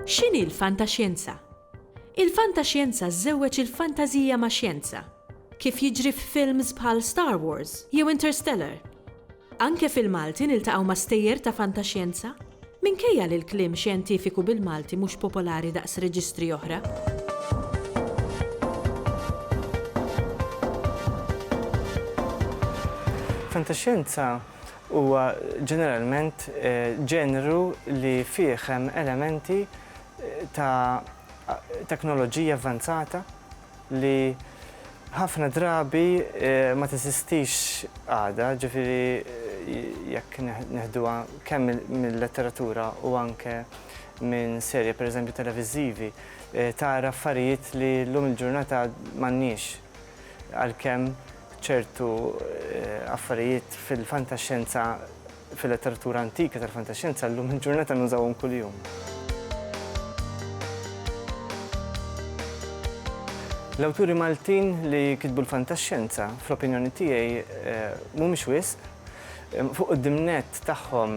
X'inhi l-fantaxjenza? Il-fantaxjenza żżewweġ il-fantażija max-xjenza, kif jiġri f'films bħal Star Wars jew Interstellar. Anke fil-Malti niltaqgħu ma' stejjer ta' fantaxjenza, minkejja li l-kliem xjentifiku bil-Malti mhux popolari daqs reġistri oħra. Fantaxjenza huwa ġeneralment ġenru li fih hemm elementi ta' teknoloġija avvanzata, li ħafna drabi ma teżistix għada, ġifieri jekk neħduha kemm mil-letteratura u anke minn serje pereżempju televiżivi, tara affarijiet li llum il-ġurnata m'għandniex. Għalkemm ċertu affarijiet fil-fantaxxenza, fil-letteratura antika tal-fantaxjenza llum il-ġurnata nużawhom kuljum. L-awturi Maltin li kitbu l-fantaxjenza, fl-opinjoni tiegħi, mhumiex wisq. Fuq quddiem nett tagħhom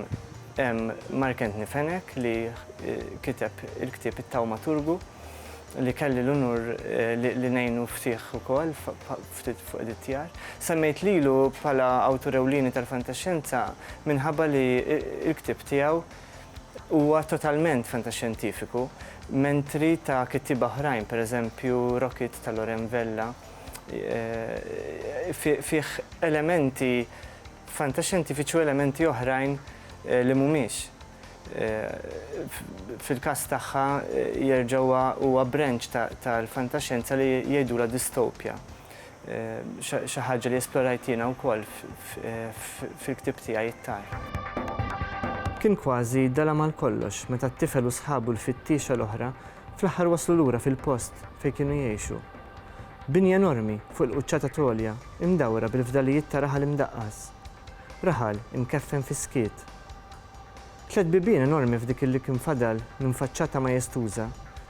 hemm Mark Anthony Fenech li kiteb il-ktieb It-Tawmaturgu. li kelli l-unur li ngħinu f'tiegħ ukoll ftit fuq editjar. Semmejt lilu bħala awtur ewlieni tal-fantaxxenza minħabba li l-ktieb tiegħu huwa totalment fantaxxjentifiku, mentri ta' kittieba oħrajn, pereżempju Rocket ta' Loren Vella, fih elementi fantaxxjentifiċi u elementi oħrajn li mhumiex. Fil-każ tagħha jerġa' huwa branch tal-fantaxjenza li jgħidulha distopja. Xi ħaġa li esplorajt jiena wkoll fil-ktieb tiegħi It-Tar. Kien kważi dalgħa mal-kollox meta t-tifel u sħabu l-fittiexa l-oħra fl-aħħar waslu lura fil-post fejn kienu jgħixu. Bini enormi fuq il-quċċata t'għolja, imdawra bil-fdalijiet ta' raħal imdaqqas. Raħal, imkeffen fis-skiet. Tliet bibien enormi f'dik il-li kien fadal minn faċċata majestuża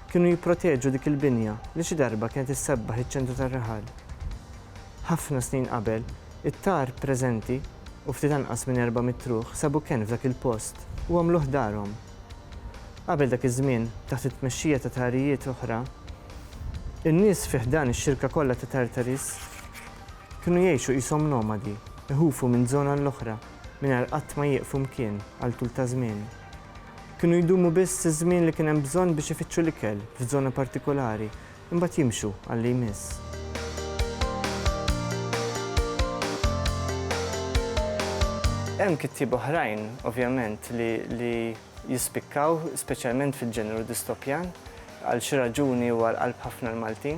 kienu jipproteġu dik il-binja li xi darba kienet issebbaħ iċ-ċentru tar-raħal. Ħafna snin qabel, it-tar preżenti u ftit anqas minn erba' mitt ruħ sabu kenn f'dak il-post u għamluh darhom. Qabel dak iż-żmien, taħt it-tmexxija ta' tarijiet oħra, in-nies fi ħdan ix-xirka kollha ta' Tartaris Kienu jgħixu qishom nomadi, iħufu minn żona l-oħra mingħajr qatt ma jieqfu mkien għal tul ta' żmien. Kienu jdumu biss iż-żmien li kien hemm bżonn biex ifittxu l-ikel f'żona partikolari, imbagħad jimxu għal li jmiss. Hemm kittieba oħrajn, ovvjament, li jispikkaw, speċjalment fil-ġeneru distopjan. Għal xi raġuni huwa għall-qalb ħafna l-Maltin.